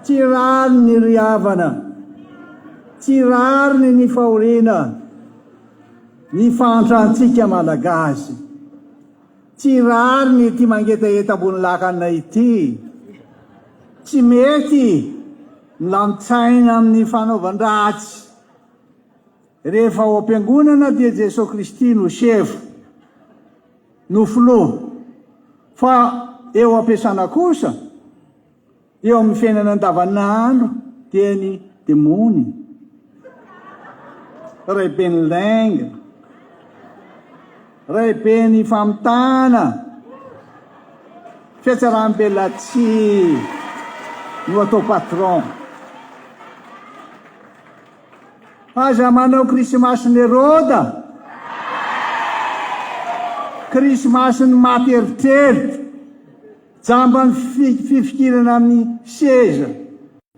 Tsy rariny ny ry havana, tsy rariny ny fahoriana, ny fahantrantsika Malagasy. Tsy rariny ity mangetaheta ambony lakana ity. Tsy mety ny lamin-tsaina amin'ny fanaovan-dratsy. Rehefa ao am-piangonana dia Jesoa Kristy no sevo. no filoha fa eo ampiasana kosa eo amin'ny fiainana andavanandro dia ny demony ray ben'ny lainga ray ben'ny famitana fiatsaram-belatsy no atao patron Aza manao krisimasin'i Heroda, krisimasin'ny maty eritreritra, jamban'ny fi- fifikirana amin'ny seza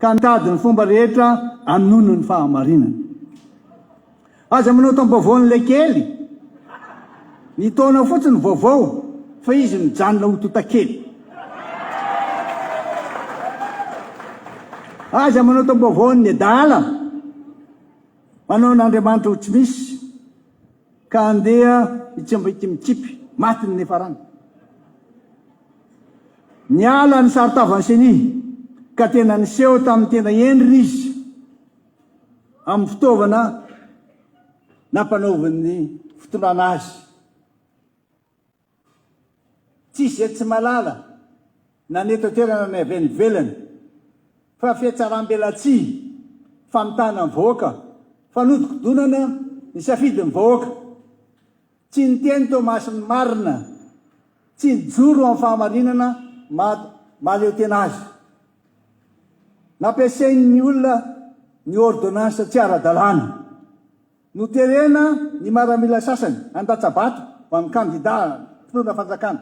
ka mitady ny fomba rehetra hanono ny fahamarinana. Aza manao taom-baovao an'ilay kely. Ny taona fotsiny vaovao fa izy nijanona ho totakely. Aza manao taom-baovao an'ny adala, manao an'Andriamanitra ho tsy misy ka andeha hitsemba ity mikipy matin'ny nefarana. Niala ny saron-tavan'i Ceni ka tena niseho tamin'ny tena endriny izy. amin'ny fitaovana nampanaovin'ny fitondrana azy. Tsy izay tsy malala na ny eto an-toerana na ny avy any ivelany fa fihatsaram-belatsihy, famitahana ny vahoaka, fanodikodonana ny safidin'ny vahoaka. Tsy niteny Thomas ny marina, tsy nijoro amin'ny fahamarinana maha mahaleo tena azy. Nampiasain'ny olona ny ôrdônansa tsy ara-dalàna. Noterena ny maramila sasany handatsa-bato ho an'ny kandidà mpitondra fanjakana.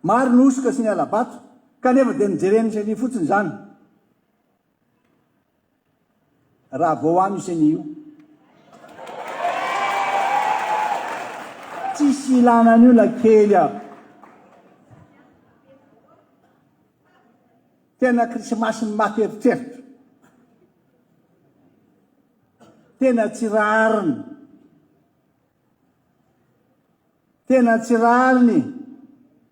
Maro ny hosoka sy ny hala-bato, kanefa dia nojereny isan'io fotsiny izany. raha vao ho an'io ceni io. Tsisy ilana an'io na kely aho. Tena krisimasy maty eritreritra. Tena tsy rariny. Tena tsy rariny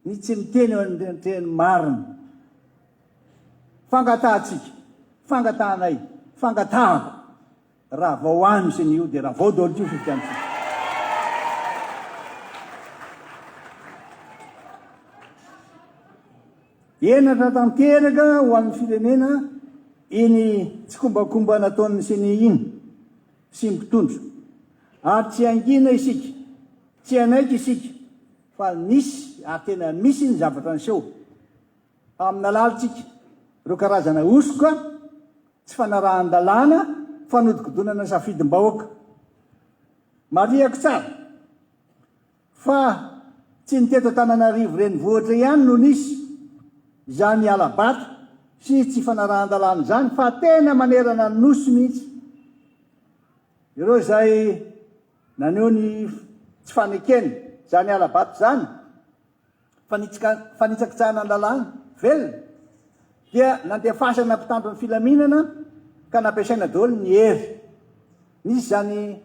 ny tsy miteny eo anatrehan'ny marina. Fangatahantsika, fangatahanay, fangatahako, raha vao any misy an'io dia raha vao daholo ity fifidianana. Henatra tanteraka ho an'ny firenena iny tsikombakomba nataon'ny Ceni iny. sy mpitondra. Ary tsy hangina isika, tsy hanaiky isika fa nisy ary tena misy ny zavatra niseho. Faminalalintsika ireo karazana hosoka, tsy fanarahan-dalàna, fanodikodinana safidim-bahoaka. Marihako tsara. Fa tsy ny teto Antananarivo renivohitra ihany no nisy izany hala-bato sy tsy fanarahan-dalàna izany fa tena manerana ny Nosy mihitsy. Ireo izay naneho ny tsy fanekeny izany hala-bato izany, fanitsakitsahana ny lalàna velona dia nandefasana mpitandro ny filaminana ka nampiasaina daholo ny hery. Nisy izany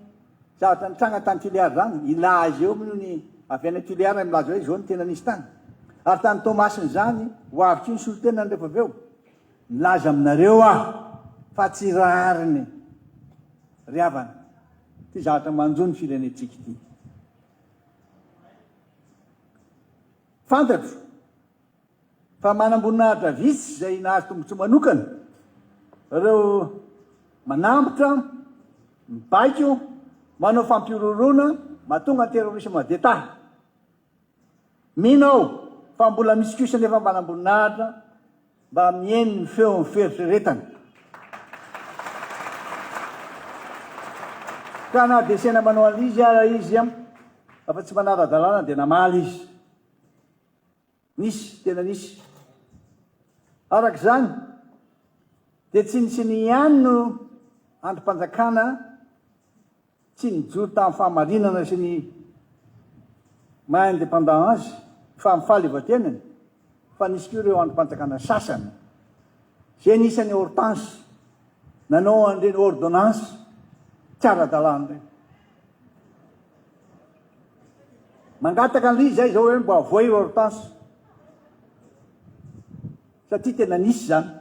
zavatra nitranga tany Tuléar izany, i La azy eo moa ny avy any Tuléar ary milaza hoe izao no tena nisy tany. Ary tany Toamasina izany, ho avy tsy ny solontenany rehefa avy eo. Milaza aminareo aho fa tsy rariny ry havana ity zavatra manjo ny firenentsika ity. Fantatro fa manam-boninahitra vitsy izay nahazo tombontsoa manokana ireo manambotra, mibaiko, manao fampihorohoroana mahatonga ny terrorisme d'Etat. Mino aho fa mbola misy kosa anefa manam-boninahitra. Mba mihaino ny feon'ny fieritreretana. Ka na dia saina manao an'izy ara izy afa tsy manara-dalàna dia namaly izy. Nisy, tena nisy. Araka izany, dia tsinontsinony ihany no andrim-panjakana Tsy nijoro tamin'ny fahamarinana sy ny maha indépendant azy, fa amin'ny fahaleovantenany, fa nisy koa ireo andrim-panjakana sasany, izay anisan'i Hortense, nanao an'ireny ordonnance tsy ara-dalàna ireny. Mangataka an'ilay izy aho izao hoe mba avoahy Hortense, satria tena nisy izany.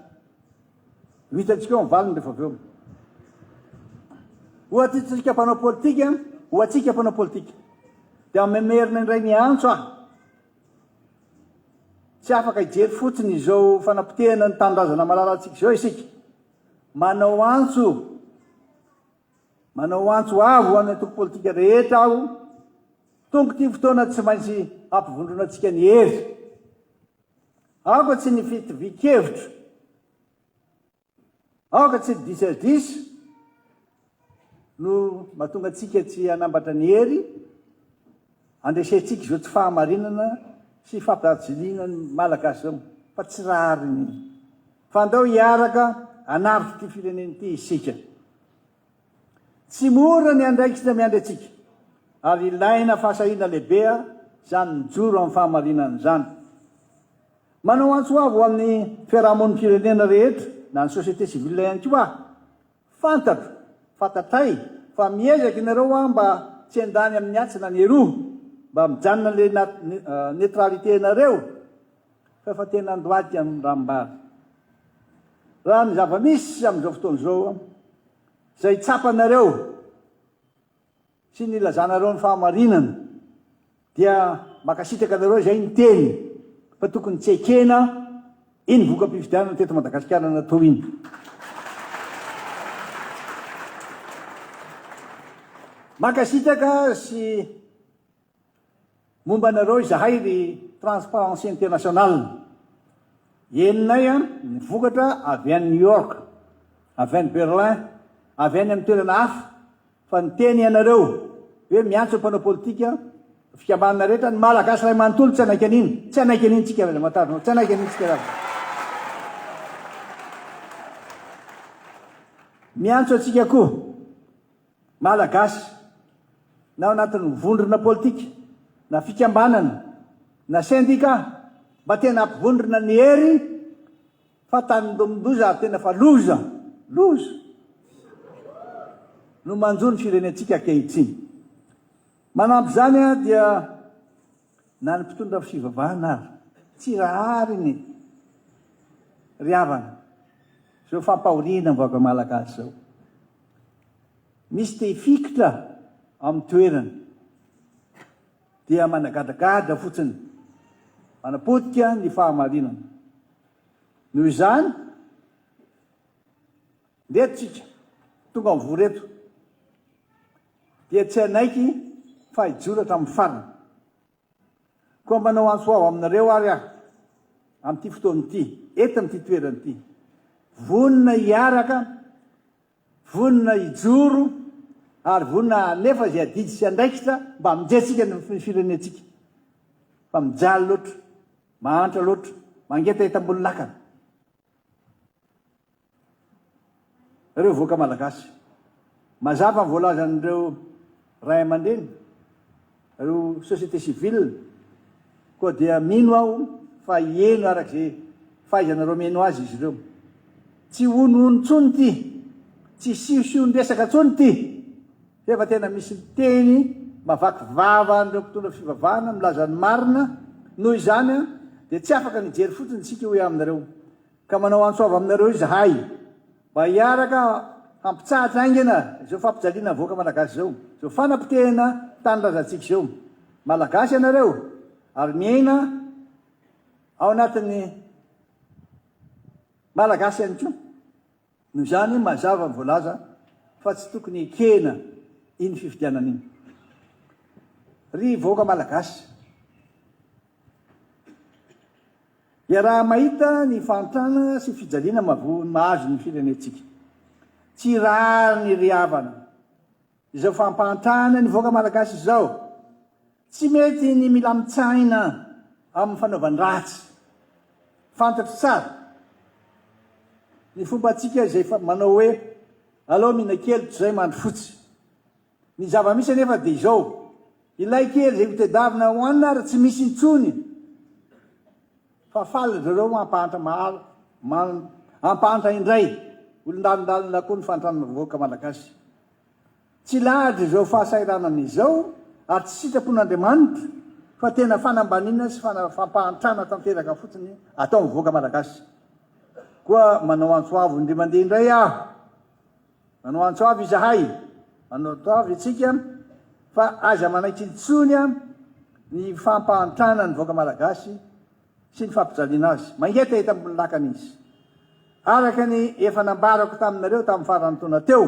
Ho hitantsika eo ny valiny rehefa avy eo. Ho atintsika mpanao politika, ho antsika mpanao politika. Dia mamerina indray ny antso aho. Tsy afaka hijery fotsiny izao fanapotehana ny tanindrazana malalantsika izao isika. Manao antso, manao antso avo ho an'ny antoko politika rehetra aho, tonga ity fotoana tsy maintsy hampivondronantsika ny hery. Aoka tsy ny fitovian-kevitra, aoka tsy ny disadisa no mahatonga antsika tsy hanambatra ny hery handresentsika izao tsy fahamarinana sy fampihajiliana ny Malagasy izao, fa tsy rariny. Fa andao hiaraka hanafika ity firenena ity isika. Tsy mora ny andraikitra miandry antsika, ary ilaina fahasahiana lehibe izany mijoro amin'ny fahamarinana izany. Manao antso avo ho an'ny fiarahamonim-pirenena rehetra na ny société civile ihany koa aho. Fantatro, fantatray fa miezaka ianareo an mba tsy handany amin'ny atsy na ny eroa, mba mijanona ilay neutralité-nareo. Fa efa tena andoaty ny ranombary. Raha ny zava-misy amin'izao fotoana izao, izay tsapanareo sy nilazanareo ny fahamarinana, dia mankasitraka anareo izay niteny fa tokony tsy ekena iny voka-pifidianana teto Madagasikara natao iny. Mankasitraka sy. Momba anareo izahay ry Transparency International, henonay ny vokatra avy any New York, avy any Berlin, avy any amin'ny toerana hafa fa niteny ianareo hoe miantso ny mpanao politika, ny fikambanana rehetra, ny Malagasy iray manontolo tsy hanaiky an'iny, tsy hanaiky an'iny tsika ry Ramatarona, tsy hanaiky an'iny tsika ry. Miantso antsika koa. Malagasy, na ao anatin'ny vondrona politika, na fikambanana, na sendika, mba tena ampivondrona ny hery fa tanindomindoza ary tena fa loza, loza, no manjo ny firenentsika ankehitriny. Manampy izany dia. Na ny mpitondra fivavahana ary tsy rahariny ry havana izao fampahoriana ny vahoaka malagasy izao. Misy te hifikitra ao amin'ny toerany dia managadragadra fotsiny, manapotika ny fahamarinana. Noho izany, ndeha tsika tonga mivory eto. dia tsy hanaiky fa hijoro hatramin'ny farany. Koa manao antso avo aminareo àry aho, amin'ity fotoana ity, eto amin'ity toerana ity, vonona hiaraka, vonona hijoro, ary vonona hanefa izay adidy sy andraikitra mba hamonjentsika ny firenentsika. Fa mijaly loatra, mahantra loatra, mangetaheta ambony lakana. Reo vahoaka malagasy. Mazava ny voalazan'ireo ray amandreny, reo société civile, koa dia mino aho fa hieno araka izay fahaizanareo mieno azy izy ireo. Tsy honohono tsony ity, tsy siosion-dresaka tsony ity. Efa tena misy miteny mavaky vava an'ireo mpitondra fivavahana milaza ny marina, noho izany dia tsy afaka ny hijery fotsiny isika hoy aho aminareo, ka manao antso avo aminareo izahay mba hiaraka hampitsahatra haingana izao fampijaliana ny vahoaka malagasy izao, izao fanapotehana tanindrazantsika izao. Malagasy ianareo ary miaina ao anatin'ny Malagasy ihany koa. Noho izany, mazava ny voalaza fa tsy tokony hekena iny fifidianana iny. Ry vahoaka Malagasy, iaraha-mahita ny fahantrana sy fijaliana mahazo ny firenentsika. Tsy rariny ry havana. Izao fampahantrana ny vahoaka malagasy izao, tsy mety ny milamin-tsaina amin'ny fanaovan-dratsy. Fantatro tsara ny fombantsika izay manao hoe alao mihinana kely toy izay mandry fotsy. Ny zava-misy anefa dia izao, ilay kely izay hotedavina hohanina ary tsy misy intsony fa faly ry zareo hampahantra maro, hampahantra indray, olon-dalindalina koa ny fahantrana vahoaka malagasy. Tsy lahatra izao fahasahiranana izao ary tsy sitrapo n'Andriamanitra fa tena fanambaniana sy fampahantrana tanteraka fotsiny ataon'ny vahoaka Malagasy. Koa manao antso avo indray mandeha indray aho, manao antso avo izahay, manao antso avo isika fa aza manaitra intsony ny fampahantrana ny vahoaka Malagasy, sy ny fampijaliana azy. Mangetaheta ambony lakana izy. Araka ny efa nambarako taminareo tamin'ny faran'ny taona teo,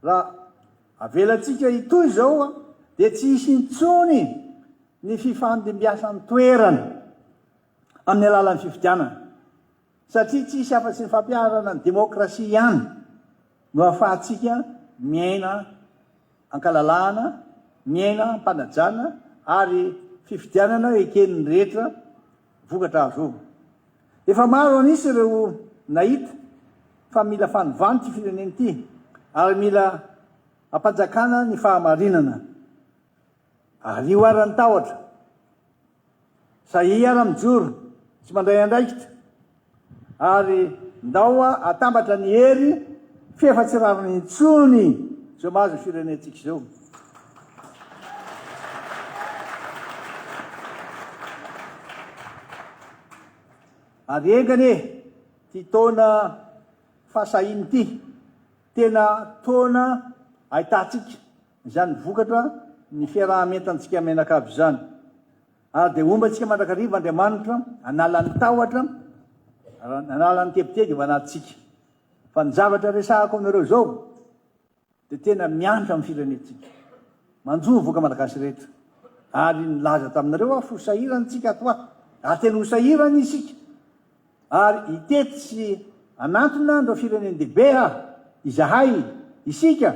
raha avelantsika hitohy izao dia tsy hisy intsony ny fifandimbiasan-toerana amin'ny alalan'ny fifidianana. Satria tsy hisy afa-tsy ny fampiharana ny demokrasia ihany no ahafahantsika miaina an-kalalahana, miaina am-panajana ary fifidianana eken'ny rehetra vokatra azo. Efa maro an'isa ireo nahita fa mila fanovana ity firenena ity ary mila ampanjakana ny fahamarinana. Ario ara ny tahotra. Sahia ara mijoro tsy mandray andraikitra ary ndao atambatra ny hery f'efa tsy rariny intsony zao mahazo ny firenentsika izao. Ary enga anie ty taona fahasahiany ty tena taona ahitantsika Izany vokatra ny fiaraha-mientantsika mianakavy izany. Ary dia homba antsika mandrakariva Andriamanitra hanala ny tahotra, hanala ny tebiteby ao anatintsika. Fa ny zavatra resahako aminareo izao dia tena miantra amin'ny firenentsika. Manjo ny voka malagasy rehetra. Ary nilaza taminareo aho fa ho sahirana isika ato ho ato. Ary tena ho sahirana isika. Ary hitety sy hanantona an'ireo firenen-dehibe aho, izahay, isika,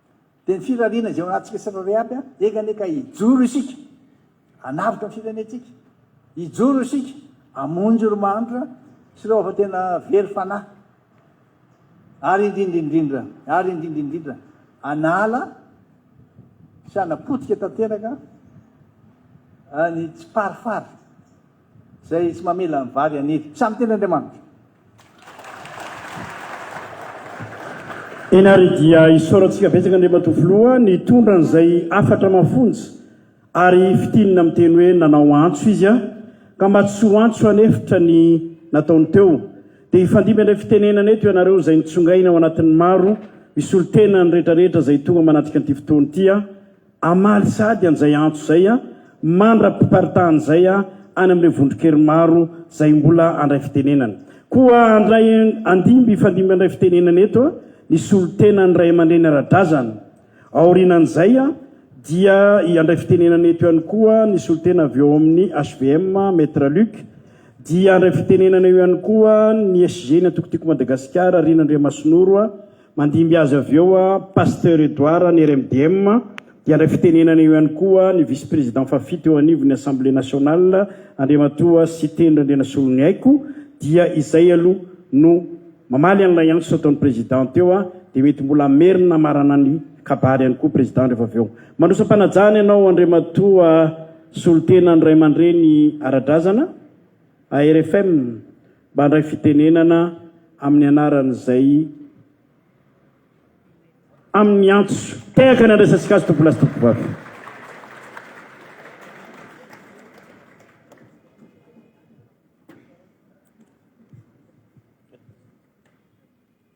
Dia ny firariana izay ao anatintsika tsirairay aby an! Enga anie ka hijoro isika hanavotra ny firenentsika, hijoro isika hamonjy ireo mahantra sy ireo efa tena very fanahy, ary indrindra indrindra, ary indrindra indrindra hanala sy hanapotika tanteraka ny tsiparifary. Izay tsy mamela ny vary haniry. Samy tian' Andriamanitra. Eny ary dia isaorantsika betsaka Andriamatoa Filoha nitondra an'izay hafatra mafonja ary fitinina miteny hoe nanao antso izy an! ka mba tsy ho antso hanefitra ny nataony teo dia hifandimby indray fitenenana eto ianareo izay nitsongaina ao anatin'ny maro misolo tena ny rehetra rehetra izay tonga manatrika an'ity fotoana ity an! Hamaly sahady an'izay antso izay mandra-piparitahan' izay any amin'ireo vondron-kery maro izay mbola handray fitenenana. Koa handray andimby hifandimby handray fitenenana eto ny solontenan'ny ray aman-dreny ara-drazana. Aorianan'izay dia handray fitenenana eto ihany koa ny solontena avy ao amin'ny HVM, Maître Luc. Dia handray fitenenana eo ihany koa ny SG-ny Antoko Tiako Madagasikara, Rina Andriamasinoro. Mandimby azy avy eo Pasteur Edouard ny RMDM dia handray fitenenana eo ihany koa ny Vice Président fahafito eo anivon'ny Assemblée Nationale Andriamatoa Siteny Randrianasoloniaiko dia izay aloha no mamaly an'ilay antso nataon'ny Président teo dia mety mbola hamerina hamarana ny kabary ihany koa Président rehefa avy eo. Mandroso am-panajana ianao Andriamatoa Solontenan'ny Ray aman-dReny ara-drazana. ARFM mba handray fitenenana amin'ny anaran'izay amin'ny antso. Tehaka ny handraisantsika azy tompolahy sy tompovavy.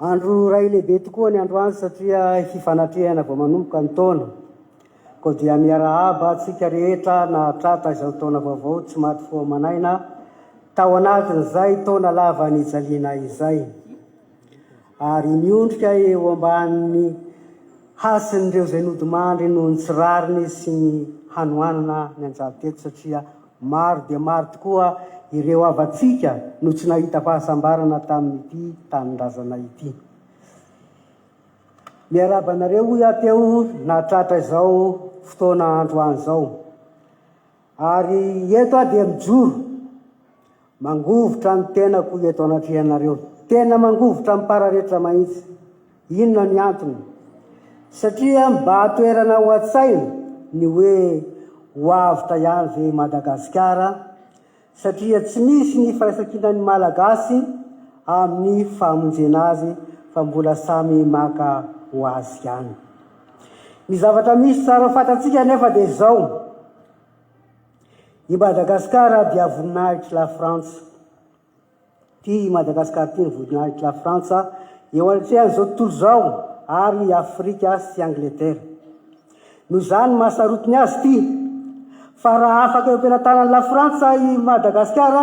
Andro iray lehibe tokoa ny androany satria hifanatrehana vao manomboka ny taona. Koa dia miarahaba antsika rehetra nahatratra izao taona vaovao tsy maty fo aman'aina tao anatin'izay taona lava nijaliana izay. Ary miondrika eo ambanin'ny hasin'ireo izay nodimandry noho ny tsy rariny sy ny hanoanana nianjady teto satria Maro dia maro tokoa ireo havantsika no tsy nahita fahasambarana tamin'ity tanindrazana ity. Miarahaba anareo hoy aho teo nahatratra izao fotoana androany izao. Ary eto aho dia mijoro Mangovitra ny tenako eto anatrehanareo. Tena mangovitra amim-pararetra mahitsy. Inona ny antony? Satria mba toerana ao an-tsaina ny hoe ho avotra ihany ve i Madagasikara? Satria tsy misy ny firaisankinan'ny Malagasy amin'ny famonjena azy fa mbola samy maka ho azy ihany. Ny zavatra misy tsara fantatsika anefa dia izao. I Madagascar dia voninahitry la Frantsa. Ty i Madagascar ty ny voninahitry la Frantsa eo anatrehan zao tontolo zao ary i Afrika sy Angleterre. Noho izany maha sarotiny azy ty fa raha afaka eo am-pelatanan'i la Frantsa i Madagascar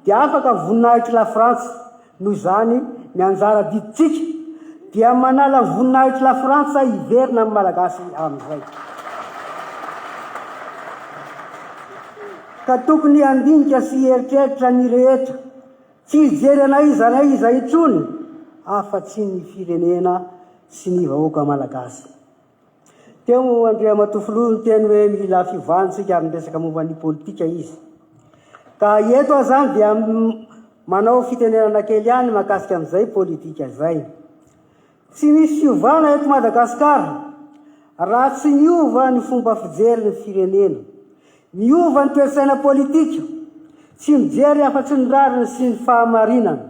dia afaka ny voninahitry la Frantsa. Noho izany, ny anjara didintsika dia manala ny voninahitr'i Lafrantsa hiverina amin'ny Malagasy amin'izay. Ka tokony handinika sy hieritreritra ny rehetra, tsy hijery an'aiza n'aiza intsony afa-tsy ny firenena sy ny vahoaka Malagasy. Teo Andriamatoa Filoha niteny hoe mila fiovana isika amin'ny resaka momba ny politika izy. Ka eto aho izany dia manao fitenenana kely ihany mahakasika an'izay politika izay. Tsy misy fiovana eto Madagasikara raha tsy miova ny fomba fijery ny firenena. Miova ny toe-tsaina politika, tsy mijery afa-tsy ny rariny sy ny fahamarinana.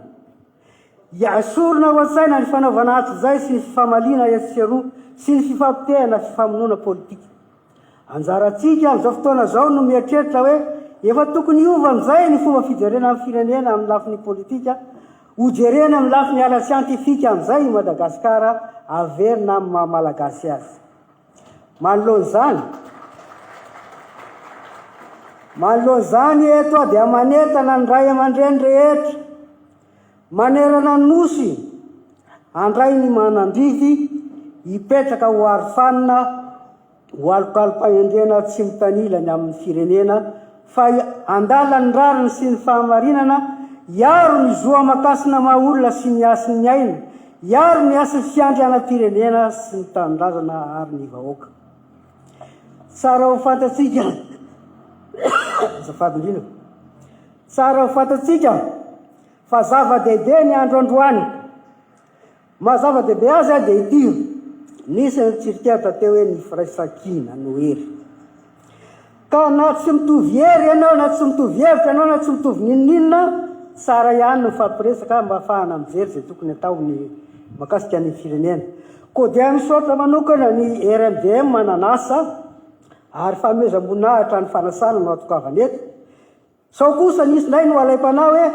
Esorina ao an-tsaina ny fanaovana azy izay sy ny fifamaliana etsy sy eroa sy ny fifampitehana sy famonoana politika. Anjarantsika amin'izao fotoana izao no mieritreritra hoe efa tokony hiova amin'izay ny fomba fijerena ny firenena amin'ny lafiny politika, hojerena amin'ny lafiny ara-tsiantifika amin'izay i Madagasikara, averina amin'ny maha-Malagasy azy. Manoloana izany, manoloana izany eto aho dia manentana ny ray aman-dreny rehetra manerana ny Nosy handray ny manam-bidy hipetraka ho arofanina ho alokalom-pahendrena tsy mitanila ny amin'ny firenena fa handala ny rariny sy ny fahamarinana, hiaro ny zo aman-kasina maha-olona sy ny hasin'ny aina. Hiaro ny hasin'ny fiandrianam-pirenena sy ny tanindrazana ary ny vahoaka. Tsara ho fantatsika, azafady indrindra, tsara ho fantatsika fa zava-dehibe ny andro androany. Maha zava-dehibe azy dia ity, nisy ny tsirikera teo hoe ny firaisankina no hery. Ka na tsy mitovy hery ianao, na tsy mitovy hevitra ianao, na tsy mitovy n'inon'inona, tsara ihany ny mifampiresaka mba hahafahana mijery izay tokony atao ny makasika ny firenena. Koa dia misaotra manokana ny RMDM nanasa ary fanomezam-boninahitra ny fanasana no atokavana eto. Sao kosa nisy indray no alaim-panahy hoe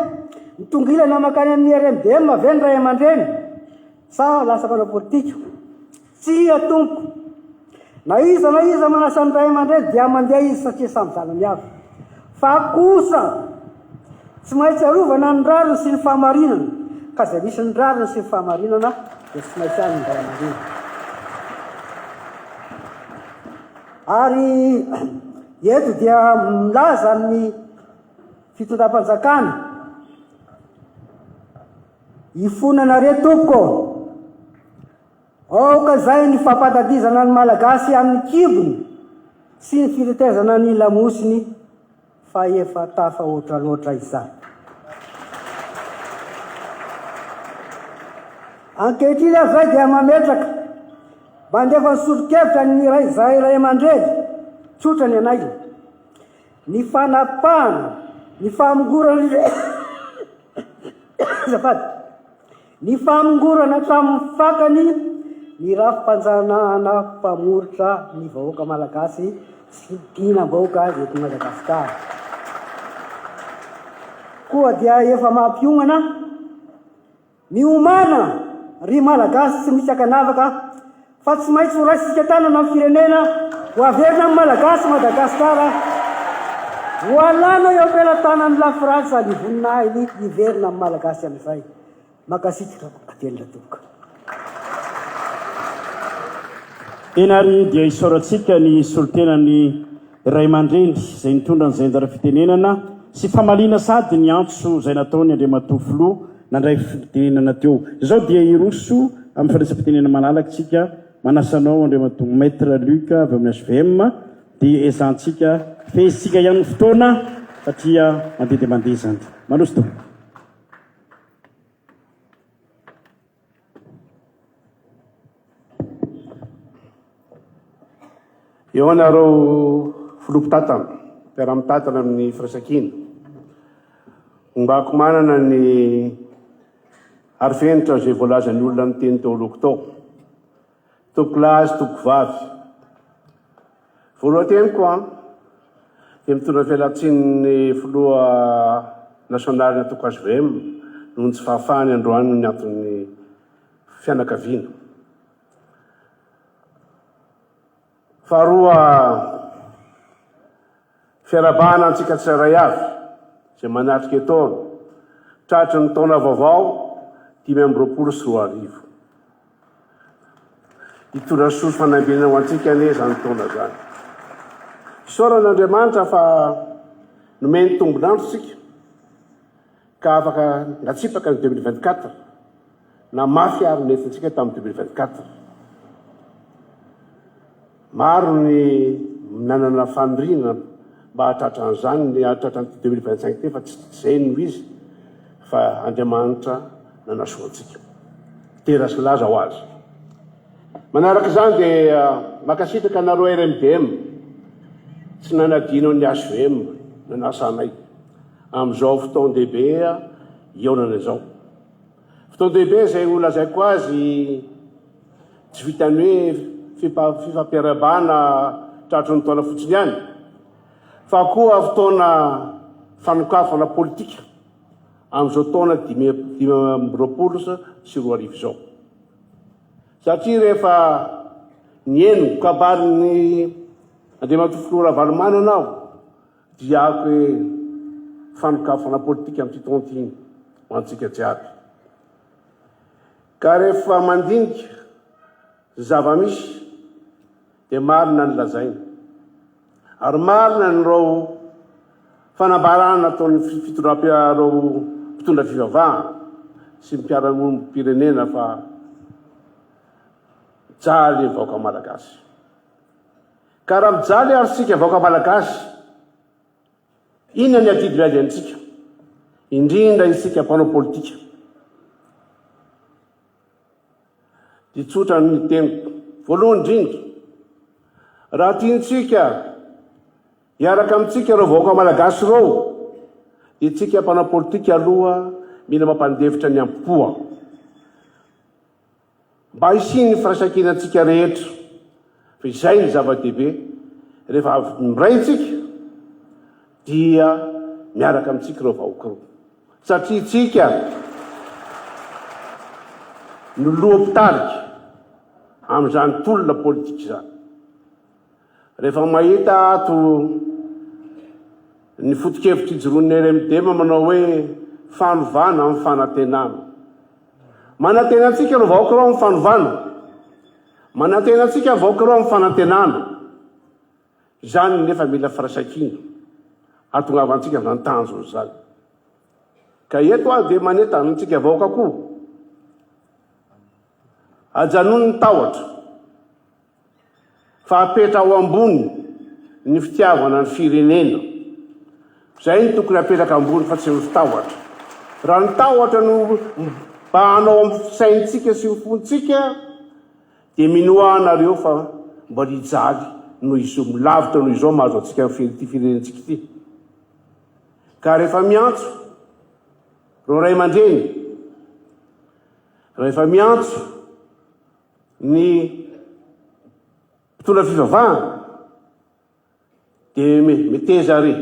mitongilana mankany amin'ny RMDM ve ny ray aman-dreny sa lasa mpanao politika? Tsia tompoko, na iza na iza manasa ny ray aman-dreny dia mandeha izy satria samy zanany avy. Fa kosa tsy maintsy arovana ny rariny sy ny fahamarinana, ka izay misy ny rariny sy ny fahamarinana dia tsy maintsy any ny ray aman-dreny. Ary Eto dia milaza ny fitondram-panjakana. Ifona na re tompoko ô! Aoka izay ny fampandadizana ny Malagasy amin'ny kibony sy ny fitetezana ny lamosiny fa efa tafahoatra loatra izany. Ankehitriny aho izay dia mametraka Mandefa ny solonkevitra ny iray izahay ray aman-dreny, tsotra ny anay, ny fanapahana, ny famongorana ny azafady, ny famongorana hatramin'ny fakany ny rafi-panjanahana mpamoritra ny vahoaka malagasy sy ny dihinam-bahoaka eto Madagasikara. Koa dia efa mampiomana Miomàna, ry Malagasy tsy misy ankanavaka, fa tsy maintsy horaisintsika tanana ny firenena, ho averina amin'ny Malagasy Madagasikara, ho alàna eo am-pelatanan'ny Lafrantsa ny voninahiny hiverina amin'ny Malagasy amin'izay. Mankasitraka velona tompoko. Tena ary dia isaorantsika ny solontenan'ny. ray aman-dreny izay nitondra ny zainjara fitenenana sy famaliana sady niantso izay nataony Andriamatoa Filoha nandray fitenenana teo. Izao dia hiroso amin'ny fandraisam-pitenenana malalaka isika, manasa anao Andriamatoa Maître Luc avy amin'ny HVM dia ezahantsika fehezintsika ihany ny fotoana satria mandeha dia mandeha izany. Manosika. Eo anareo filoha mpitatana, mpiara-mitatana amin'ny firaisankina, hombako manana ny arifenitra izay voalazan'ny olona niteny teo alohako tao. Tompolahy sy Tompovavy, voalohan-teniko dia mitondra ny fialantsinin'ny Filoha Nasionalin'ny Antoko hvm noho ny tsy fahafahany androany noho ny anton'ny fianakaviana. Faharoa, fiarahabana antsika tsirairay avy izay manatrika etoana tratry ny taona vaovao dimy amby roapolo sy roa arivo. Hitondra soa sy fanambinana ho antsika anie izany taona izany. Fisaorana an'Andriamanitra fa nomeny tombon'andro isika. Ka afaka natsipaka ny deux mille vingt quatre na mafy ary ny entsintsika tamin'ny deux mille vingt quatre. Maro ny nanana faniriana mba hahatratra an'izany, ny hahatratra an'ity deux mille vingt cinq ity fa tsy izay no izy fa Andriamanitra nanasoa antsika. Dera sy laza ho azy. Manaraka izany dia mankasitraka anareo RMDM tsy nanadino an'ny HVM nanasa anay. Amin'izao fotoan-dehibe hihaonana izao. Fotoan-dehibe izay ho lazaiko azy tsy vitan'ny hoe fifampiarahabana tratry ny taona fotsiny ihany, fa koa fotoana fanokafana politika amin'izao taona dimy amby roapolo sy roa arivo izao. Satria rehefa nihaino ny kabarin'ny Andriamatoa Filoha Ravalomanana aho, Diako e! Fanokafana politika amin'ity taona ity ho antsika jiaby. Ka rehefa mandinika ny zava-misy dia marina ny lazaina. Ary marina ireo fanambarana nataon'ny fitondram-piarao mpitondra fivavahana sy ny mpiara-monim-pirenena fa mijaly ny vahoaka Malagasy. Ka raha mijaly ary isika vahoaka Malagasy, inona ny adidy miady amintsika? Indrindra isika mpanao politika dia tsotra ny teniko. Voalohany indrindra, raha tiantsika hiaraka amintsika ireo vahoaka Malagasy ireo, dia tsika mpanao politika aloha mila mampandefitra ny am-poa. Mba hisian'ny firaisankina antsika rehetra, fa izay no zava-dehibe, rehefa avy miray isika dia miaraka amintsika ireo vahoaka roa, satria isika no loha mpitarika amin'izany tolona politika izany. Rehefa mahita ato ny fotokevitr'ijoroan'ny RMDM manao hoe fanovana amin'ny fanantenana. Manantena antsika ireo vahoaka ireo amin'ny fanovana. Manantena antsika ny vahoaka ireo amin'ny fanantenana. Izany nefa mila firaisankina hatongavantsika izany tanjona izany. Ka eto aho dia manentana antsika vahoaka koa. Ajanony ny tahotra. Fa apetra ao ambony ny fitiavana ny firenena. Zay no tokony apetraka ambony fa tsy ny fitahotra. Raha ny tahotra no mibahanao amin'ny fisaintsika sy ny fontsika dia minoa ahy nareo fa mba rijaly noho izao lavitra noho izao mahazo antsika ity firenentsika ity. Ka rehefa miantso reo ray aman-dreny, rehefa miantso Ny mpitondra fivavahana dia meteza àry,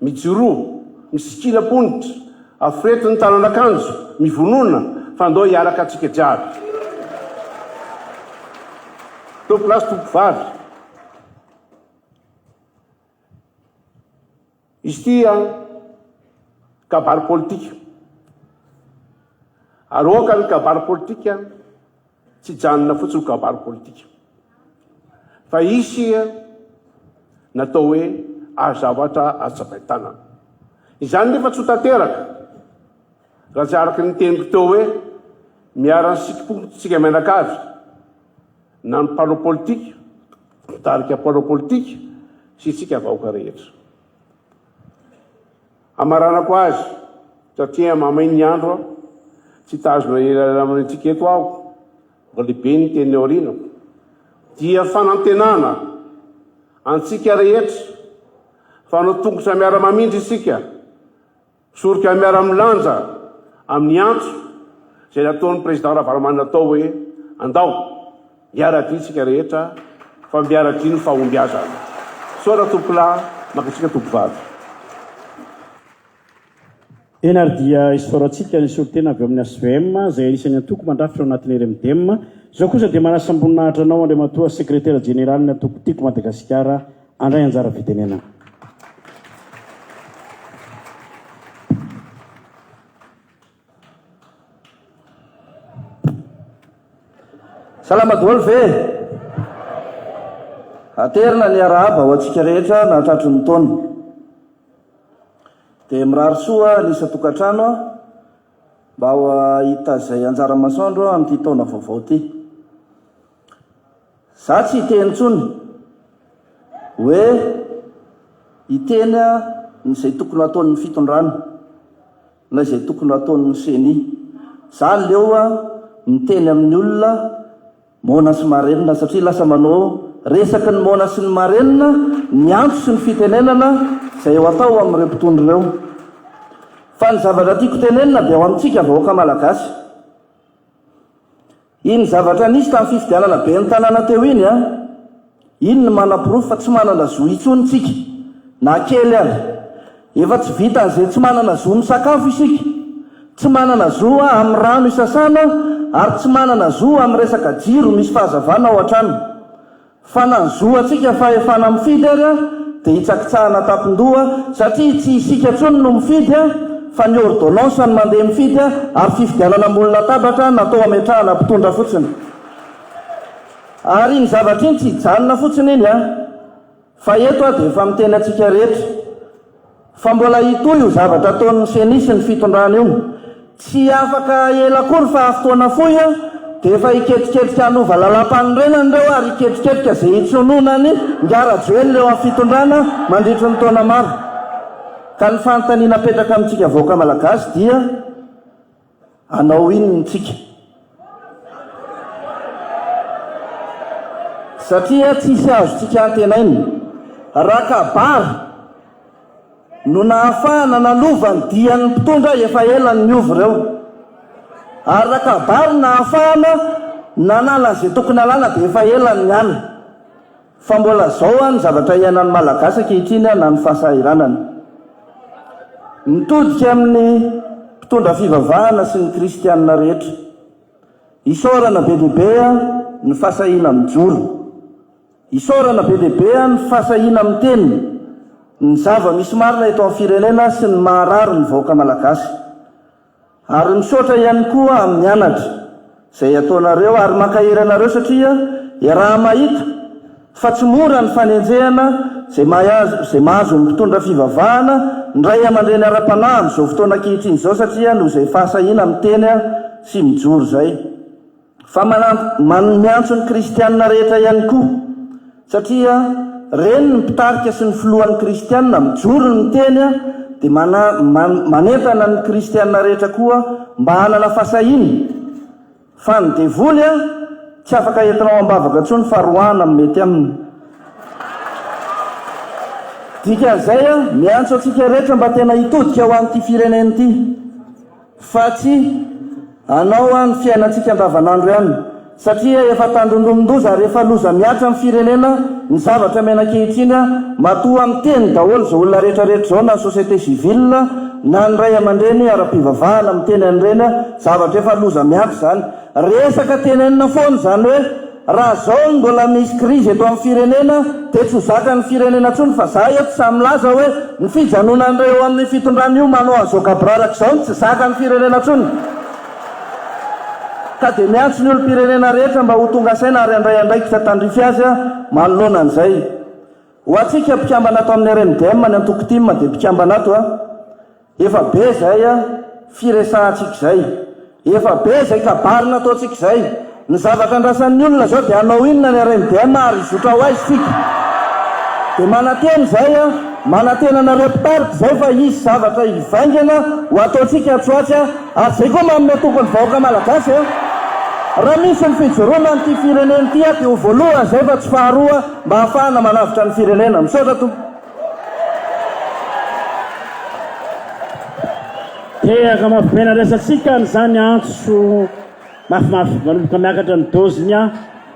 mijoroa, misikina am-ponitra, aforetin'ny tànan'akanjo, mivonona fa andao hiaraka antsika jiaby. Tompolahy sy tompovavy, Izy ity an, kabary politika. Ary aoka ny kabary politika tsy hijanona fotsiny ho kabary politika. Fa hisy natao hoe azo zavatra azo tsapain-tanana. Izany nefa tsy ho tanteraka raha tsy araka ny teniko teo hoe miara-nisikim-po tsika mianakavy. Na ny mpanao politika, mpitarika mpanao politika sy isika vahoaka rehetra. Hamaranako azy satria mamay ny andro aho, tsy hitazona elaela amintsika eto aho, mba lehibe ny teny aoriana, dia fanantenana antsika rehetra fa hanao tongotra miara-mamindra isika, Soroka miara-milanja amin'ny antso izay nataon'ny Président Ravalomanana tao hoe, Andao, miara-dia isika rehetra fa miara-dia ny fahombiazana. Misaotra tompolahy, mankatsiaka tompovavy. Eny ary dia isaorantsika ny solontena avy ao amin'ny HVM izay anisan'ny antoko mandrafitra ao anatin'ny RMDM. Izao kosa dia manasa-boninahitra anao Andriamatoa Sekretera Jeneralin'ny Antoko Tiako Madagasikara, Handray anjara fitenenana. Salama daholo ve? Aterina ny harahaba ho antsika rehetra nahatratry ny taona. Dia mirary soa ny isan-tokantrano aho mba ho hahita izay anjara masoandro amin'ity taona vaovao ity. Za tsy hiteny intsony hoe hiteny ny zay tokony hataon'ny fitondrana na izay tokony hataon'ny ceni. Za aleo miteny amin'ny olona moana sy marenina satria lasa manao resaky ny moana sy ny marenina ny antso sy ny fitenenana zay ho atao amin'ireo mpitondra ireo. Fa ny zavatra tiako tenenina dia ho amintsika vahoaka malagasy. Iny zavatra nisy tamin'ny fifidianana ben'ny tanàna teo iny an! Iny no manaporofo fa tsy manana zo intsony tsika, na kely ary. Efa tsy vitan'izay tsy manana zo misakafo isika, tsy manana zo amin'ny rano isasana ary tsy manana zo amin'ny resaka jiro misy fahazavana ao an-trano. Fa na ny zo antsika fahefana mifidy ary a dia hitsakitsahana tampindoha satria tsy isika intsony no mifidy a fa ny ordonnance no mandeha mifidy a ary fifidianana ambony latabatra natao hametrahana mpitondra fotsiny ary iny zavatra iny tsy hijanona fotsiny iny a fa eto a dia efa miteny antsika rehetra Fa mbola hitohy io zavatra ataon'ny ceni sy ny fitondrana io. Tsy afaka ela akory fa fotoana fohy dia efa hiketriketrika hanova lalampanorenana ireo ary hiketriketrika izay hitsonoana an'i Ingahy Rajoelina eo amin'ny fitondrana mandritry ny taona maro. Ka ny fanontaniana apetraka amintsika vahoaka malagasy dia. Hanao inona isika? Satria tsisy azontsika antenaina. Rakabary no nahafahana nanova ny dian'ny mpitondra efa ela niova ireo. Ary Rakabary nahafahana nanala izay tokony halana dia efa ela niala. Fa mbola zao an ny zavatra iainan'ny Malagasy ankehitriny an na ny fahasahiranana. Mitodika amin'ny mpitondra fivavahana sy ny kristianina rehetra. Isaorana be dia be an ny fahasahiana mijoro. Isaorana be dia be an ny fahasahiana miteny ny zava misy marina eto amin'ny firenena sy ny maharary ny vahoaka Malagasy. Ary misaotra ihany koa amin'ny anatra izay ataonareo ary mankahery anareo satria iaraha-mahita fa tsy mora ny fanenjehana izay mahazo izay mahazo ny mpitondra fivavahana ny ray aman-dreny ara-panahy amin'izao fotoana ankehitriny izao satria noho izay fahasahiana miteny sy mijoro izay Fa manan, miantso ny kristiana rehetra ihany koa, satria reny ny mpitarika sy ny filohan'ny kristiana mijoro ny miteny a, dia mana, man, manentana ny kristiana rehetra koa mba hanana fasahiana fa ny devoly a, tsy afaka entina ao ambavaka intsony fa roahina amin'ny mety aminy. Dikan'izay a, miantso antsika rehetra mba tena hitodika ho an'ity firenena ity. Fa tsy hanao aho ny fiainantsika andavanandro ihany, satria efa tandindomin-doza ary efa loza mihatra amin'ny firenena ny zavatra miaina ankehitriny, matoa miteny daholo izao olona rehetrarehetra izao na ny société civile na ny ray aman-dreny ara-pivavahana miteny an'ireny zavatra efa loza mihatra izany, resaka tenenina foana izany hoe. Raha izao no mbola misy krizy eto amin'ny firenena dia tsy ho zakan'ny firenena intsony fa za eto sahy milaza hoe ny fijanonan'ireo eo amin'ny fitondrana io manao an'izao gaboraraka izao no tsy zakan'ny firenena intsony ka dia miantso ny olom-pirenena rehetra mba ho tonga saina ary handray andraikitra tandrify azy manoloana an'izay. Ho antsika mpikambana ato amin'ny RMDM ny antoko tim dia mpikambana ato a. Efa be izay firesahantsika izay. Efa be izay kabary nataontsika izay. Ny zavatra andrasan'ny olona izao dia hanao inona ny RMDM ary hizotra ho aiza isika. Dia manantena izay, manantena anareo mpitarika izay fa hisy zavatra hivaingana ho ataontsika atsy ho atsy ary izay koa manome toky ny vahoaka malagasy. Raha misy ny fijoroana an'ity firenena ity dia ho voalohany izay fa tsy faharoa mba hahafahana manavotra ny firenena. Misaotra Tompo. Dia hamafibaina resatsika an'izany antso mafimafy manomboka miakatra ny doziny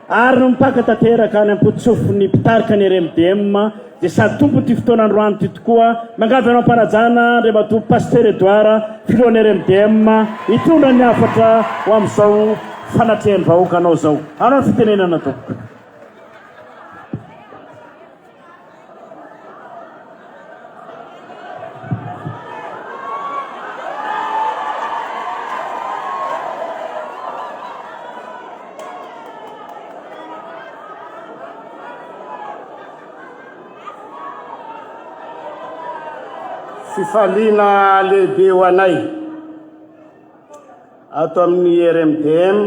ary mipaka tanteraka any am-potsofin'ny mpitarika ny RMDM dia sady tompon'ity fotoana androany ity tokoa. Mangavy anao am-panajana Andriamatoa Pasitera Edouard, Filohan'ny RMDM, hitondra ny hafatra ho amin'izao fanatrehan'ny vahoaka anao izao. Anao ny fitenenana tompoko. Fifaliana lehibe ho anay ato amin'ny RMDM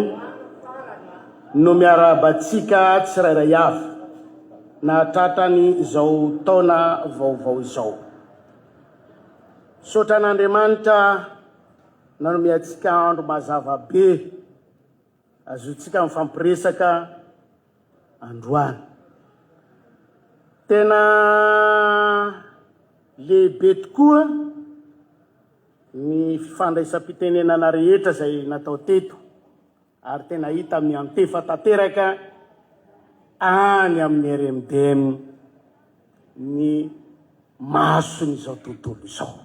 no miarahabantsika tsirairay avy. na tratran'ny izao taona vaovao izao. Misaotra an'Andriamanitra nanome antsika andro mazava be azotsika mifampiresaka androany. Tena lehibe tokoa ny fifandraisam-pitenenana rehetra izay natao teto. ary tena hita miantefa tanteraka any amin'ny RMDM ny mason'izao tontolo izao.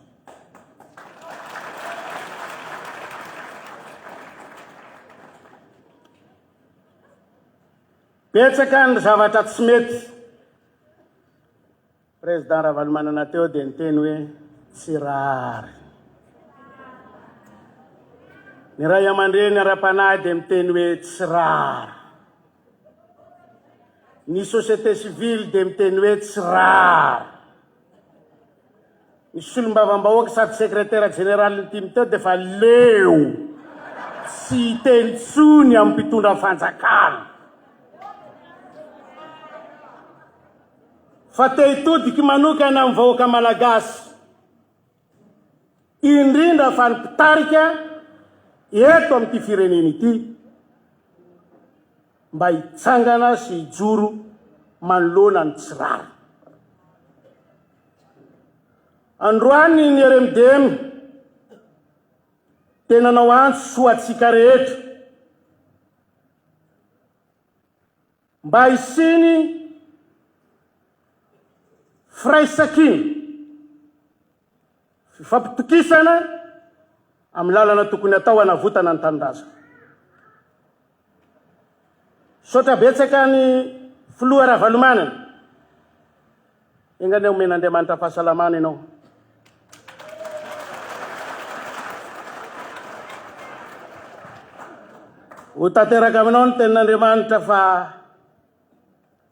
Betsaka ny zavatra tsy mety. Président Ravalomanana teo dia niteny hoe tsy rariny. Ny ray aman-dreny ara-panahy dia miteny hoe tsy rariny. Ny société civile dia miteny hoe tsy rariny. Ny solombavambahoaka sady secrétaire général ny tim teo dia efa leo tsy hiteny tsony amin'ny mpitondra fanjakana. Fa te hitodiky manokana amin'ny vahoaka Malagasy, indrindra fa ny mpitarika eto amin'ity firenena ity, mba hitsangana sy hijoro manoloana ny tsy rariny. Androany ny RMDM dia nanao antso ho antsika rehetra, Mba hisiany firaisankina, fifampitokisana amin'ny lalana tokony hatao hanavotana ny tanindrazana. Misaotra betsaka an'i Filoha Ravalomanana Enga anie omen'Andriamanitra fahasalamana ianao. Ho tanteraka aminao ny tenin'Andriamanitra fa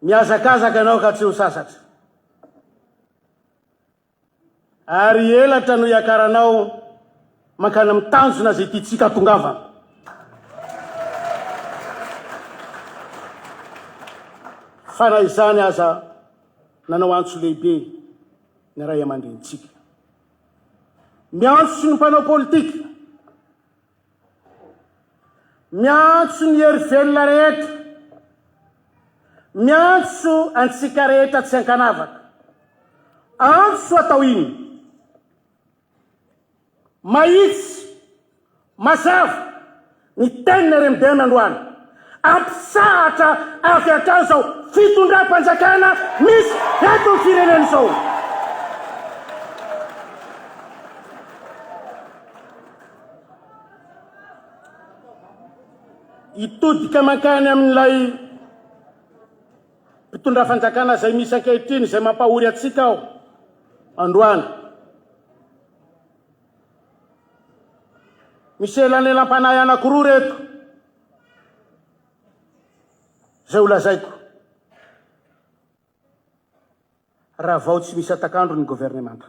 mihazakazaka ianao ka tsy ho sasatra. Ary elatra no hiakaranao mankany amin'ny tanjona izay tiantsika hatongavana. Fa na izany aza, nanao antso lehibe ny raiamandrenintsika. Miantso ny mpanao politika. Miantso ny hery velona rehetra. Miantso antsika rehetra tsy ankanavaka. Antso atao iny. Mahitsy, mazava, ny tenin'i RMDM androany. Ampitsahatra avy hatrany izao fitondram-panjakana misy eto amin'ny firenena izao. Hitodika mankany amin'ilay mpitondra fanjakana izay misy ankehitriny izay mampahory antsika aho androany. Misy elanelam-panahy anankiroa reto izay holazaiko. Ravao tsy misy atakandro ny governemanta.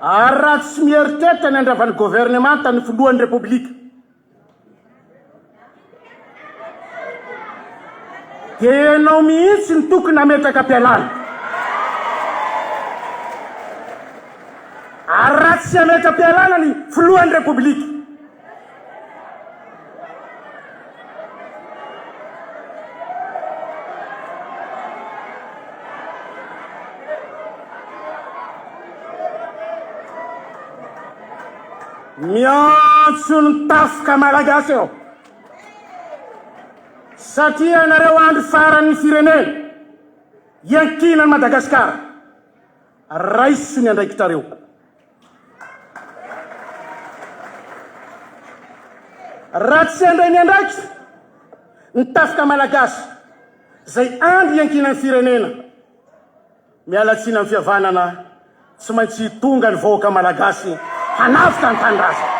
Ary raha tsy mieritreritra ny handrava ny governemanta ny filohan'ny Repoblika, dia ianao mihitsy no tokony hametraka am-pialana. Ary raha tsy hametra am-pialana ny filohan'ny Repoblika, miantso ny tafika malagasy eo satria anareo andro faran'ny firenena iankinany madagasikara raiso ny andraikitrareo Raha tsy handray ny andraikitra ny tafika malagasy izay andro iankinan'ny firenena, miala tsiny amin'ny fihavanana, tsy maintsy tonga ny vahoaka malagasy hanavotra ny tanindrazana.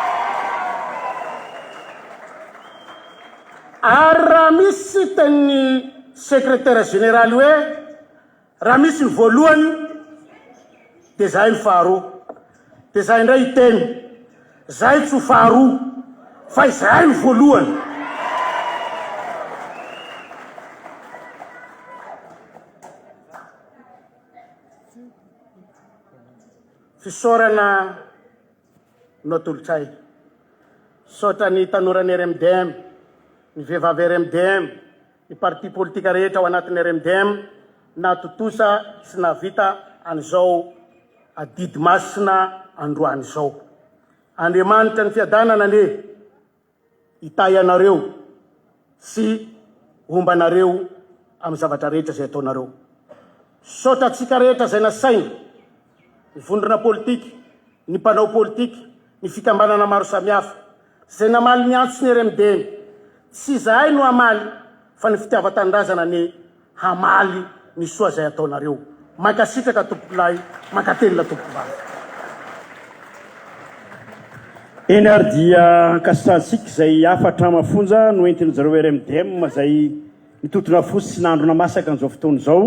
Ary raha misy siten'ny Sekretera Jeneraly hoe, Raha misy ny voalohany dia zahay ny faharoa, dia zahay indray hiteny, zahay tsy ho faharoa fa izahay no voalohany. Fisaorana. no atolotr'ay. Misaotra ny tanoran'ny RMDM, ny vehivavy RMDM, ny parti politika rehetra ao anatin'ny RMDM nahatontosa sy nahavita an'izao adidy masina androany izao. Andriamanitra ny fiadanana anie. Hitahy anareo sy homba anareo amin'ny zavatra rehetra izay ataonareo. Misaotra antsika rehetra izay nasaina, ny vondrona politika, ny mpanao politika, ny fikambanana maro samihafa, izay namaly ny antson'ny RMDM. Tsy izahay no hamaly fa ny fitiavan-tanindrazana anie. hamaly ny soa izay ataonareo. Mankasitraka tompokolahy, mankatelina tompokovavy. Eny ary dia ankasitrahantsika izay hafatra mafonja noentin jareo RMDM izay nitontona fo sy nandrona masaka an'izao fotoana izao.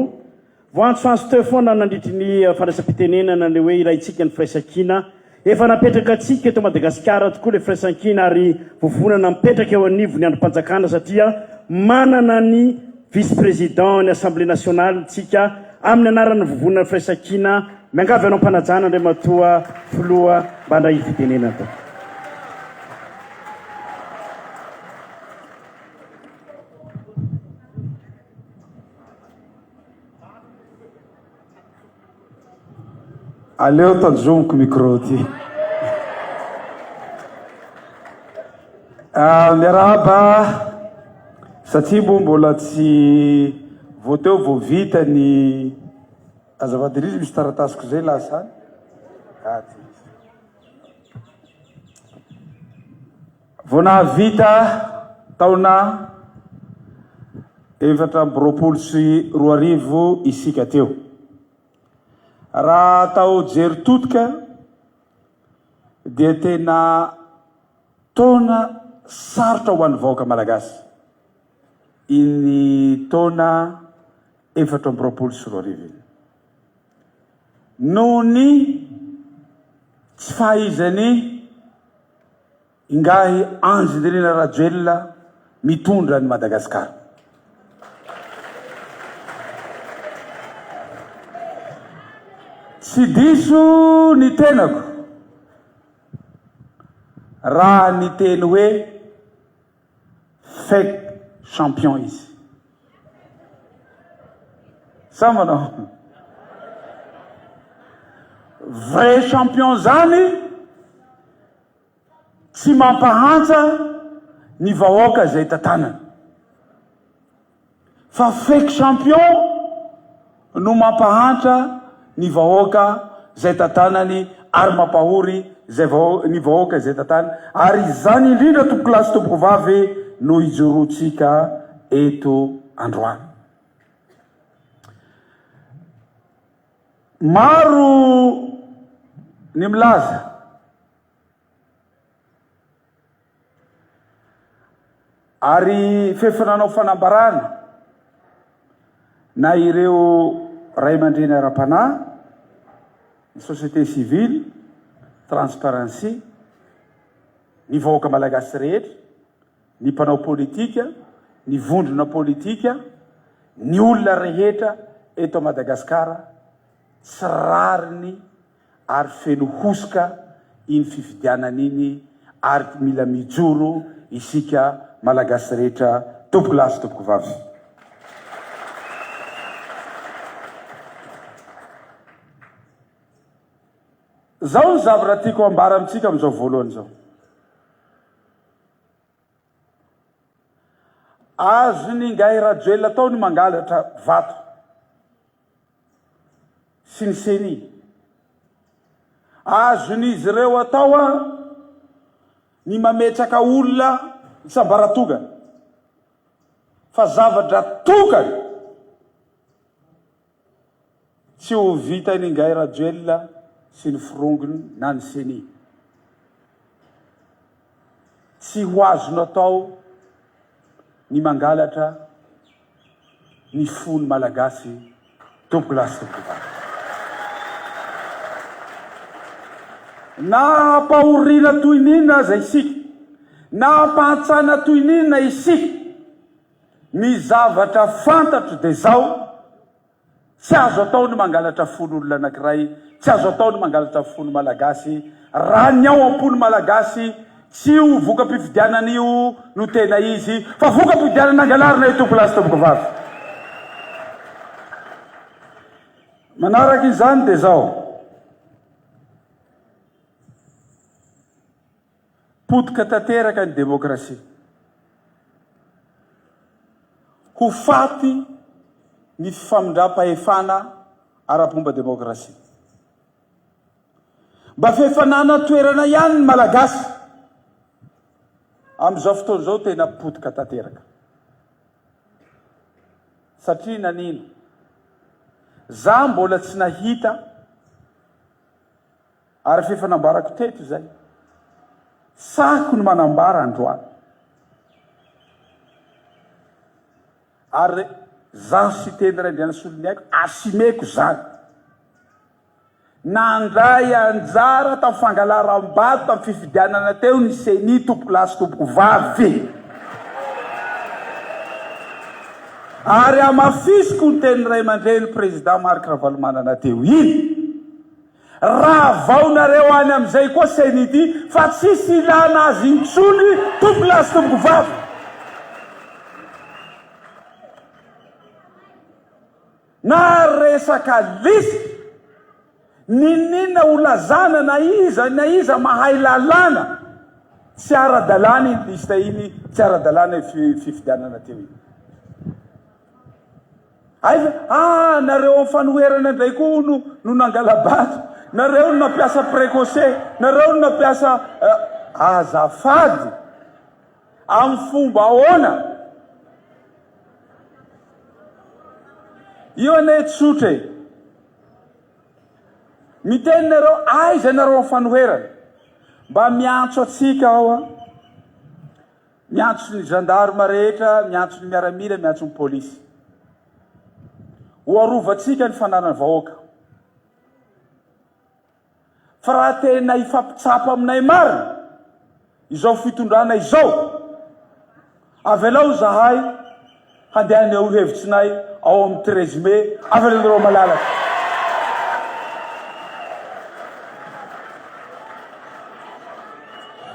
Voantsoantso teo foana nandritry ny fandraisam-pitenenana ny hoe ilaintsika ny firaisankina, Efa napetraka antsika eto Madagasikara tokoa ilay firaisankina ary vovonana mipetraka eo anivon'ny andrim-panjakana satria manana ny vice président ny Assemblée nationale tsika amin'ny anaran'ny vovonana firaisankina miangavy anao mpanajana Andriamatoa Filoha mba handray fitenenana tompoko. Aleo tanjomiko micro ty. Ah, miarahaba, satria moa mbola tsy vao teo vao vita ny azafady indrindra misy taratasiko izay lasa any. Vao nahavita taona efatra amby roapolo sy roa arivo isika teo. Raha atao jery todika dia tena taona sarotra ho an'ny vahoaka malagasy iny taona efatra amby roapolo sy roa arivo iny. Noho ny tsy fahaizan'ny ingahy Andry Nirina Rajoelina mitondra an'i Madagasikara. Tsy diso ny tenako raha niteny hoe. Fake champion izy. Sa manao? Vrai champion zany tsy mampahantsa ny vahoaka izay tantanany. Fa fake champion no mampahantra ny vahoaka zay tatanany ary mampahory zay vahoaka ny vahoaka zay tatany ary izany indrindra tompoko lahy sy tompoko vavy no ijoroantsika eto androany maro ny milaza Ary f'efa nanao fanambarana na ireo ray aman-dreny ara-panahy, ny société civile, Transparency, ny vahoaka malagasy rehetra, ny mpanao politika, ny vondrona politika, ny olona rehetra eto Madagasikara tsy rariny. ary feno hosoka iny fifidianana iny ary mila mijoro isika Malagasy rehetra tompoko lahy sy tompoko vavy. Zao ny zavatra tiako hambara amintsika amin'izao voalohany izao. Azon'ingahy Rajoelina atao ny mangalatra vato. sy ny ceni. Azon'izy ireo atao ny mametraka olona hisambaratongana fa zavatra tokana tsy ho vitan'Ingahy Rajoelina sy ny firongony na ny ceni. Tsy ho azony atao ny mangalatra ny fony Malagasy tompolahy sy tompokovavy. Na ampahoriana toy ny inona aza isika, na ampantsana toy ny inona isika, ny zavatra fantatro dia izao, Tsy azo atao ny mangalatra fon' olona anankiray, tsy azo atao ny mangalatra ny fon' ny Malagasy, raha ny ao am-po ny Malagasy, tsy io voka-pifidianana io no tena izy, fa voka-pifidianana angalarina io Tompolahy sy Tompokovavy. Manaraka izany dia izao. Potika tanteraka ny demokrasia. Ho faty ny famindram-pahefana ara-pomba demokrasia. Mba f'efa nanan-toerana ihany ny Malagasy. Amin'izao fotoana izao tena potika tanteraka. Satria nanino? Za mbola tsy nahita. Ary fa efa nambarako teto izay. Sahiko ny manambara androany. Ary zaho sy Teny Raindrianasolony aiko asimeko izany. Nandray anjara tamin'ny fangalaram-bato tamin'ny fifidianana teo ny Ceni tompokolahy sy tompokovavy. Ary hamafisiko ny tenin'ny Raiamandreny Président Marc Ravalomanana teo iny. Ravao nareo any amizay koa CNID fa tsisy ilana azy intsony tompoko lahy sy tompoko vavy. Na resaka lisy. Ninoninona ho lazana na iza na iza mahay lalàna. Tsy ara dalàna iny liste iny, tsy ara dalàna io fifidianana teo iny. Aiza? Ah nareo am fanoherana ndray koa hono no nangalabato? Nareo no nampiasa precoce? Nareo no nampiasa eh, azafady? Am fomba ahoana? Io anie tsotra e! Miteny nareo aiza nareo am fanoherana? Mba miantso atsika ao an! Miantso ny gendarme rehetra, miantso ny miaramila, miantso ny polisy. Ho arovantsika ny fananan'ny vahoaka. Fa raha tena hifampitsapa aminay marina izao fitondrana izao, avelao izahay Handeha haneho hevitsinay ao amin'ny treize mai avril ireo malalaka.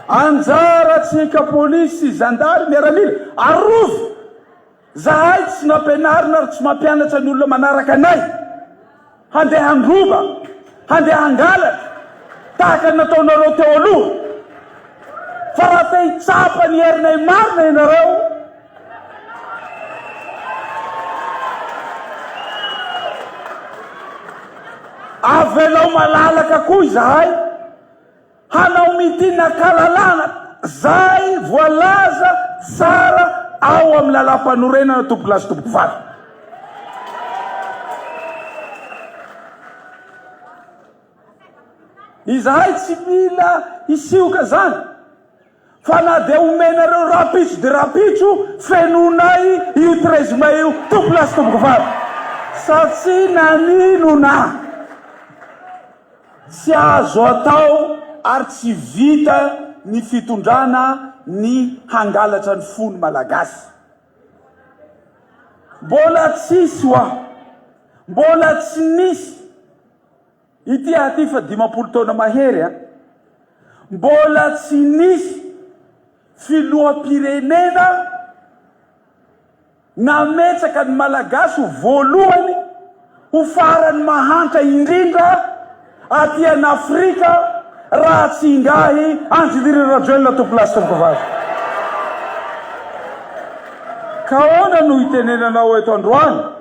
Anjarantsika polisy sy zandary miaramila, arovy! Zahay tsy nampianarina ary tsy mampianatra ny olona manaraka anay. Handeha handroba, handeha hangalatra, tahaka ny nataonareo teo aloha. Fa raha te hitsapa ny herinay marina ianareo, avelao malalaka koa izahay. Hanao meeting an-kalalahana izay voalaza tsara ao amin'ny Lalàmpanorenana tompokolahy sy tompokovavy. Izahay tsy mila hisioka izany. Fa na dia omenareo rahampitso dia rahampitso, fenoinay io treize mai io tompo lahy sy tompoko vavy. Satria naninona? Tsy azo atao ary tsy vita ny fitondrana ny hangalatra ny fony malagasy. Mbola tsisy wa? Mbola tsy nisy? Ity aho ity fa dimampolo taona mahery a! Mbola tsy nisy filoham-pirenena nametraka ny Malagasy ho voalohany, ho faran'ny mahantra indrindra aty an'Afrika raha tsy ingahy Andry Nirina Rajoelina Topilasy tompoko vazo. Ka ahoana no itenenanao eto androany?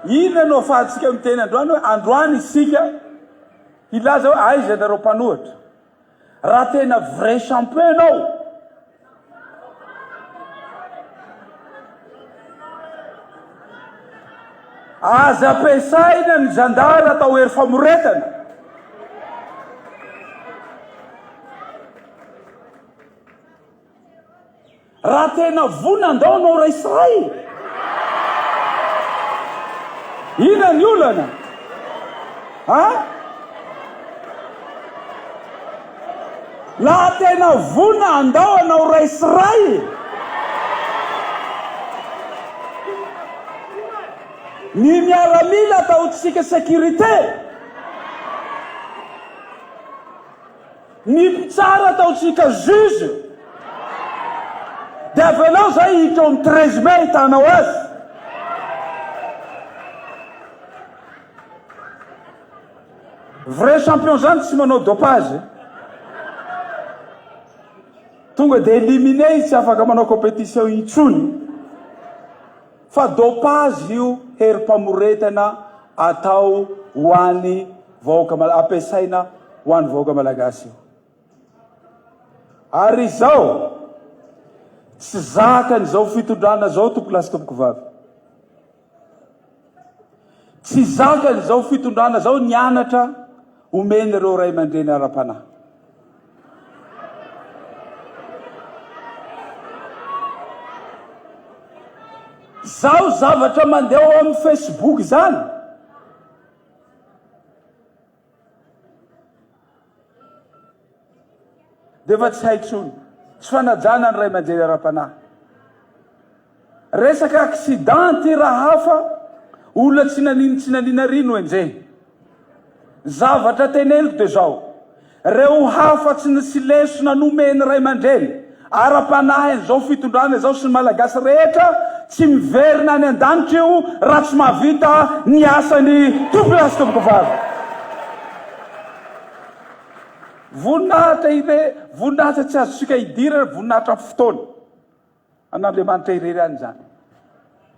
Inona no ahafahantsika miteny androany hoe androany isika hilaza hoe aiza ianareo mpanohitra? Raha tena vrai champion ianao, aza ampiasaina ny zandary atao hery famoretana. Raha tena vonona andao anao ray sy ray e! Inona ny olana? Ha? Laha tena vonona andao anao ray sy ray e! Ny miaramila ataontsika sécurité. Ny mpitsara ataontsika juge dia avy anao izay hiditra ao amin'ny treize mai ahitanao azy. Vrai champion izany tsy manao dopage. Tonga dia éliminé izy tsy afaka manao compétition intsony fa dopage io herim-pamoretana atao ho an'ny Vahoaka Malagasy, ampiasaina ho an'ny vahoaka Malagasy io. Ary izao, tsy zakan'izao fitondrana izao tompoko lahy sy tompoko vavy. Tsy zakan'izao fitondrana izao ny anatra omen'ireo ray aman-dreny ara-panahy. Zao zavatra mandeha ao amin'ny Facebook izany, dia efa tsy hay intsony. Tsy fanajana ny ray aman-dreny ara-panahy. Resaka accident ity raha hafa, olona tsy nanino tsy nanina ry no enjehy. Zavatra teneniko dia izao. Ireo hafa tsy nisy lesona nomen'ny ray aman-dreny ara-panahy an'izao fitondrana izao sy ny Malagasy rehetra tsy miverina any an-danitra io raha tsy mahavita ny asany tompoko lahy sy tompoko vavy. Voninahitra ire, voninahitra tsy azontsika idirana, voninahitra amin'ny fotoana. An'Andriamanitra irery any izany.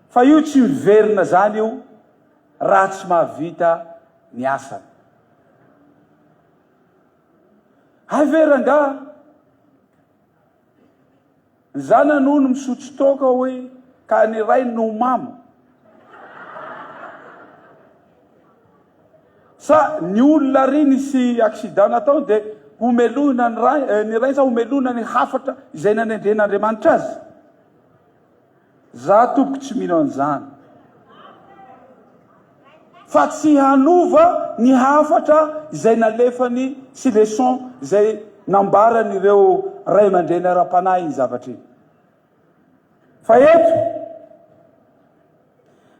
Fa io tsy miverina izany io raha tsy mahavita ny asany. Hay ve rangaha, ny zanany hono misotro toaka hoy ka ny rainy no mamo. Sa ny olona ary nisy accident nataony dia homelohina ny rainy sa homelohina ny hafatra izay nanendren'Andriamanitra azy? Za tompoko tsy mino an'izany fa tsy hanova ny hafatra izay nalefany sy leçon izay nambaran'ireo ray aman-dreny ara-panahy iny zavatra iny. Fa eto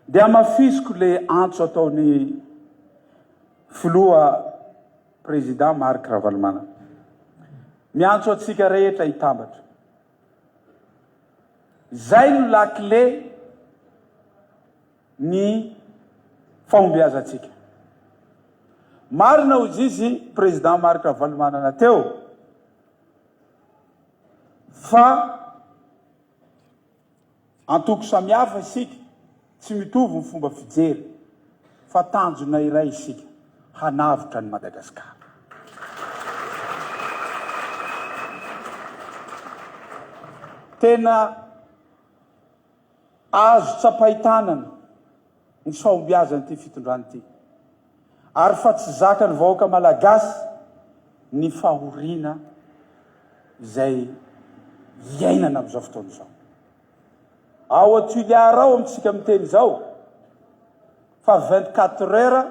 dia hamafisiko le antso ataony Filoha Président Marc Ravalomanana. Miantso antsika rehetra hitambatra. Izay no lakile ny fahombiazantsika. Marina hoy izy Président Marc Ravalomanana teo. Fa antoko samihafa isika, tsy mitovy ny fomba fijery, fa tanjona iray isika, hanavotra an'i Madagasikara. Tena. Azo tsapain-tanana ny fahombiazan'ity fitondrana ity ary fa tsy zakan'ny vahoaka Malagasy ny fahoriana izay iainana amin'izao fotoana izao. Ao Tuilear ao amintsika miteny izao fa vingt-quatre heures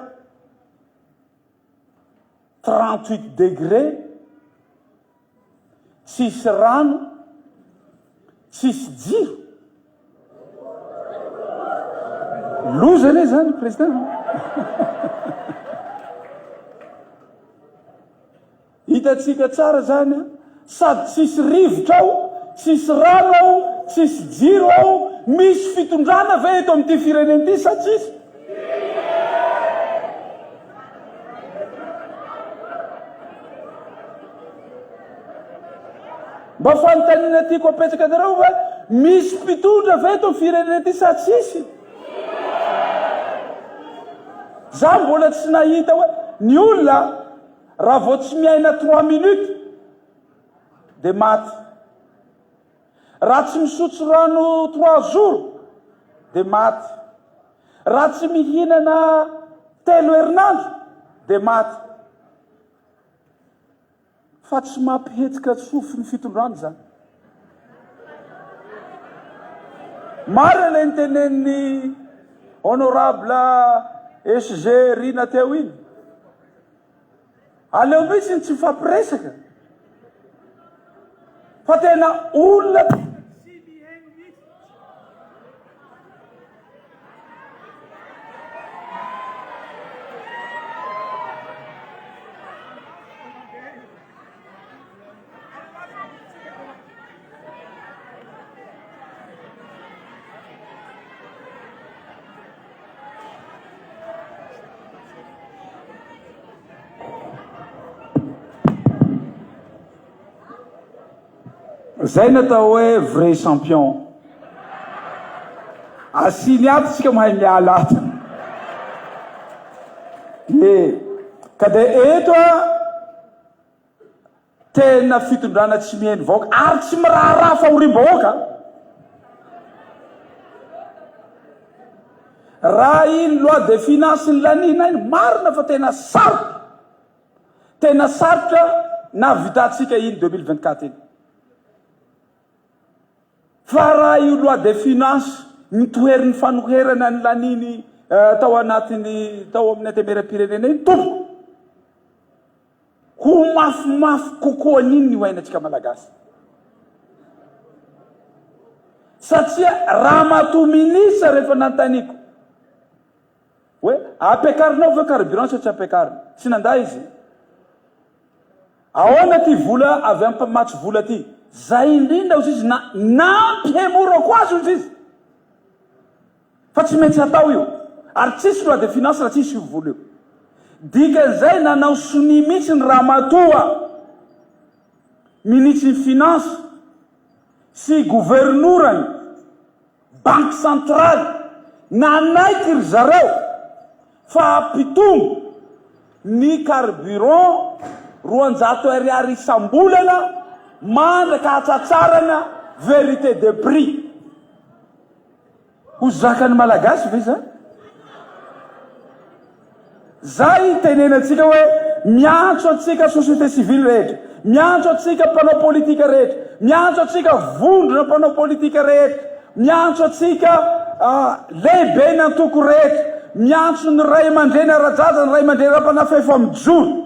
trente huit degre, tsisy rano, tsisy jiro. Loza anie zany président. Hitantsika tsara izany an! Sady tsisy rivotra ao, tsisy rano ao, tsisy jiro ao, misy fitondrana ve eto amin'ity firenena ity sa tsisy? Mba fanontaniana tiako apetraka anareo hoe misy mpitondra ve eto firenena ity sa tsisy? Za mbola tsy nahita hoe ny olona Raha vao tsy miaina trois minutes dia maty. Raha tsy misotro rano trois jours dia maty. Raha tsy mihinana telo herinandro dia maty. Fa tsy mampihetsika tsofy ny fitondrana izany. Marina ilay nitenenin'i honorable SG Rina teo iny. Aleo mihitsy ny tsy mifampiresaka fa tena olona tena tsy mihaino mihitsy. Zay ny atao hoe vrai champion. Asiny ato tsika mahay miala ato. Ye. Ka dia eto a Tena fitondrana tsy miheno vahoaka ary tsy miraharaha fahoriam-bahoaka. Raha iny loi de finance nilaniana iny, marina fa tena sarotra, tena sarotra nahavitantsika iny 2024 iny. Fa raha io loi de finance nitohery ny fanoherana ny laniny tao anatiny tao amin'ny antemeram-pirenena iny tompoko, ho mafimafy kokoa an'iny ny ho ainantsika Malagasy. Satria ramatoa ministra rehefa nanontaniako, Hoe ampiakarinao ve carburant sa tsy ampiakarina? Tsy nandà izy. Ahoana ty vola avy am mpamatsy vola ty? Zay indrindra ozy izy na nampihemorako azy ozy izy. Fa tsy metsy atao io. Ary tsisy loi de finance raha tsisy io vola io. Dikan'izay nanao sonia mitsy ny ramatoa minitsin'ny finance sy governorany. Banky Centraly, nanaiky ry zareo fa hampitombo ny carburant roanjato Ar isam-bolana mandraka hahatratrarana vérité de prix. Ho zakan'ny Malagasy ve izany? Izay itenenantsika hoe miantso antsika société civile rehetra, miantso antsika mpanao politika rehetra, miantso antsika vondrona mpanao politika rehetra, miantso antsika lehibe ny antoko rehetra, miantso ny ray aman-dreny ara-jaza, ny ray aman-dreny ara-panahy fa efa mijoro.